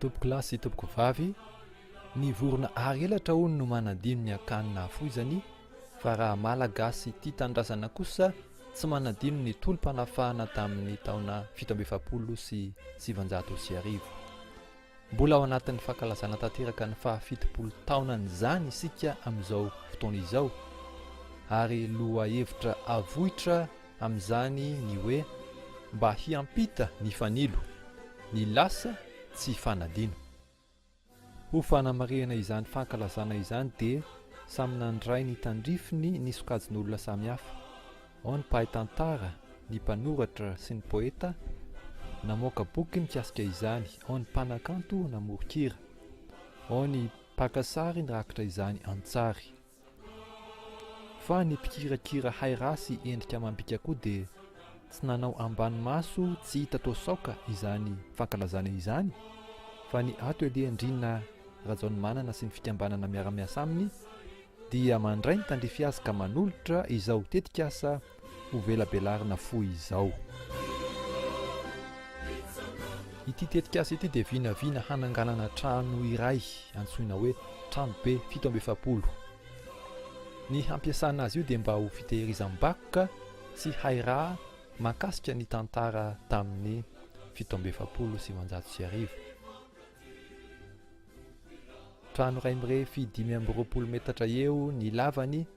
Tompoko lahy sy tompoko vavy, ny vorona ary elatra hono no manadino ny akany nahafoizany fa raha Malagasy tia tanindrazana kosa tsy manadino ny tolom-panafahana tamin'ny taona fito amby efapolo sy sivanjato sy arivo. Mbola ao anatin'ny fankalazana tanteraka ny fahafitopolo taonan'izany isika amin'izao fotoana izao ary lohahevitra avoitra amin'izany ny hoe mba hiampita ny fanilo, ny lasa tsy fanadino. Ho fanamarihana izany fankalazana izany dia samy nandray ny tandrifiny ny sokajin'olona samihafa, ao ny mpahay tantara, ny mpanoratra sy ny poeta namoaka boky mikasika izany, ao ny mpanakanto namoron-kira, ao ny mpaka sary nirakitra izany an-tsary. Fa ny mpikirakira hay ra sy endrika amam-bika koa dia tsy nanao ambany maso tsy hita toa saoka izany fankalazana izany fa ny ato anie Ndriana Rajaonimanana sy ny fikambanana miara-miasa aminy dia mandray ny tandrify azy ka manolotra izao tetikasa Ho velabelarina fohy izao. Ity tetikasa ity dia vinavina hananganana trano iray antsoina hoe tranobe fito amby efapolo. Ny hampiasana azy io dia mba ho fitehirizam-bakoka sy hay raha mahakasika ny tantara tamin'ny fito amby efapolo sy sivinjato sy arivo. Trano iray mirefy dimy amby roapolo metatra eo ny lavany.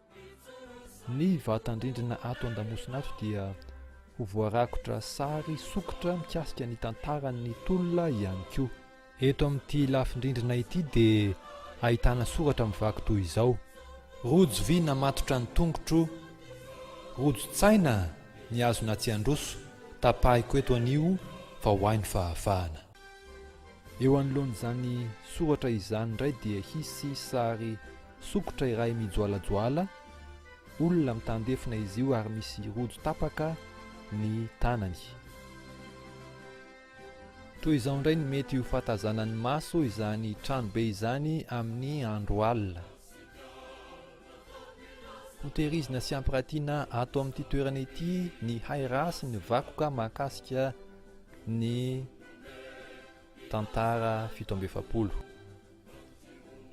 Ny vatan-drindrina ato an-damosina ato dia ho voarakotra sary sokitra mikasika ny tantaran'ny tolona ihany koa. Eto amin'ity lafin-drindrina ity dia ahitana soratra mivaky toy izao. Rojo vy namatotra ny tongotro, rojo tsaina ny hazo natsian-droso, tapahiko eto anio vao hay ny fahafahana. Eo anoloan'izany soratra izany indray dia hisy sary sokitra iray mijoalajoala, olona mitandefona izy io ary misy rojo tapaka ny tanany. Toy izao indray ny mety ho fahatazanan'ny maso izany tranobe izany amin'ny andro alina. Hotehirizina sy hampiratiana ato amin'ity toerana ity ny hay raha sy ny vakoka mahakasika ny tantara fito amby efapolo.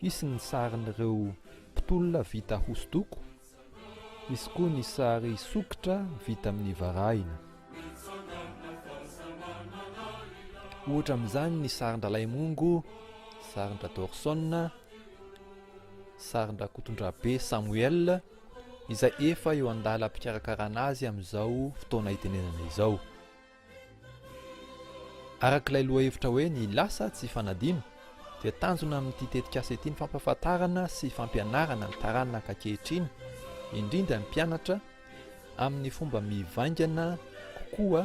Hisy ny sarin'ireo mpitolona vita hosodoko, hisy koa ny sary sokitra vita amin'ny varahina. Ohatra amin'izany ny sarin-dRalaimongo, sarin-dRadorson, sarin-dRakotondrabe Samuel, izay efa eo an-dalam-pikarakarana azy amin'izao fotoana itenenana izao. Araka ilay lohahevitra hoe ny lasa tsy fanadino dia tanjona amin'ity tetikasa ity ny fampahafantarana sy fampianarana ny taranaka ankehitriny, indrindra ny mpianatra, amin'ny fomba mivaingana kokoa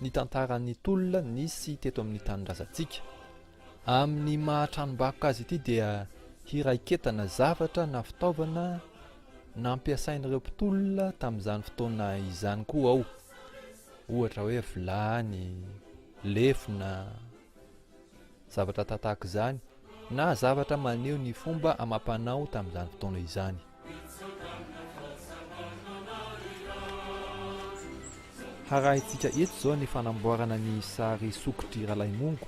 ny tantaran'ny tolona nisy teto amin'ny tanindrazantsika. Amin'ny maha tranombakoka azy ity dia hiraiketana zavatra na fitaovana nampiasain'ireo mpitolona tamin'izany fotoana izany koa ao ohatra hoe vilany, lefona, zavatra tahaka izany na zavatra maneho ny fomba amam-panao tamin'izany fotoana izany. Harahintsika eto izao ny fanamboarana ny sary sokitry Ralaimongo.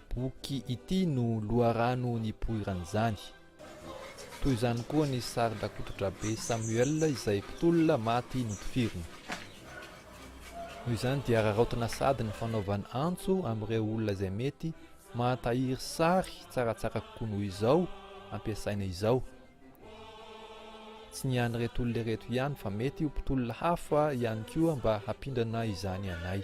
Boky ity no loharano nipoiran'izany. Toy izany koa ny sarin-dRakotodrabe Samuel izay mpitolona maty notifirina. Noho izany dia araraotina sady ny fanaovana antso amin'ireo olona izay mety mahatahiry sary tsaratsara kokoa noho izao ampiasaina izao. Tsy ny an'ireto olona ireto ihany fa mety ho mpitolona hafa ihany koa mba hampindrana izany anay.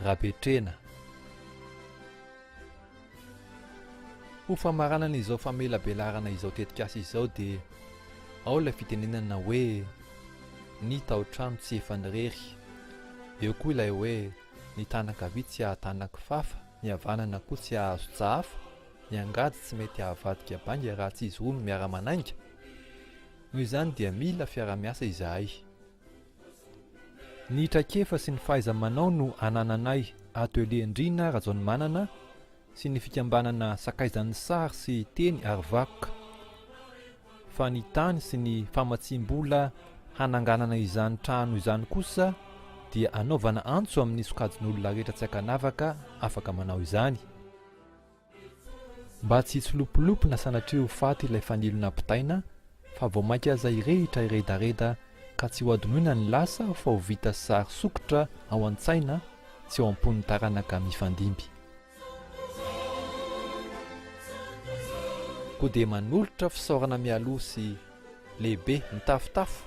Rabetrena. Ho famaranana izao famelabelarana izao tetikasa izao dia ao ilay fitenenana hoe ny tao-trano tsy efan'irery. Eo koa ilay hoe ny tàna ankavia tsy hahatàna kifafa, ny havanana koa tsy hahazo tsahafa, ny angady tsy mety hahavadika bainga raha tsy izy roa no miara-manainga. Noho izany dia mila fiara-miasa izahay. Ny traikefa sy ny fahaiza-manao no anananay ato Elie Ndrina Rajaonimanana sy ny fikambanana Sakaizan'ny sary sy teny ary vakoka, fa ny tany sy ny famatsiam-bola hananganana izany trano izany kosa dia anaovana antso amin'ny sokajin'olona rehetra tsy ankanavaka afaka manao izany. Mba tsy hitsilopilopy na sanatria ho faty ilay fanilo nampitaina, fa vao mainka aza hirehitra hiredareda ka tsy hohadinoina ny lasa fa ho vita sary sokitra ao an-tsaina sy ao am-pon'ny taranaka mifandimby. Koa dia manolotra fisaorana mialoha sy lehibe mitafotafo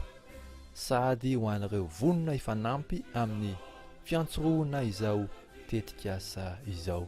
sahady ho an'ireo vonona hifanampy amin'ny fiantsorohana izao tetikasa izao.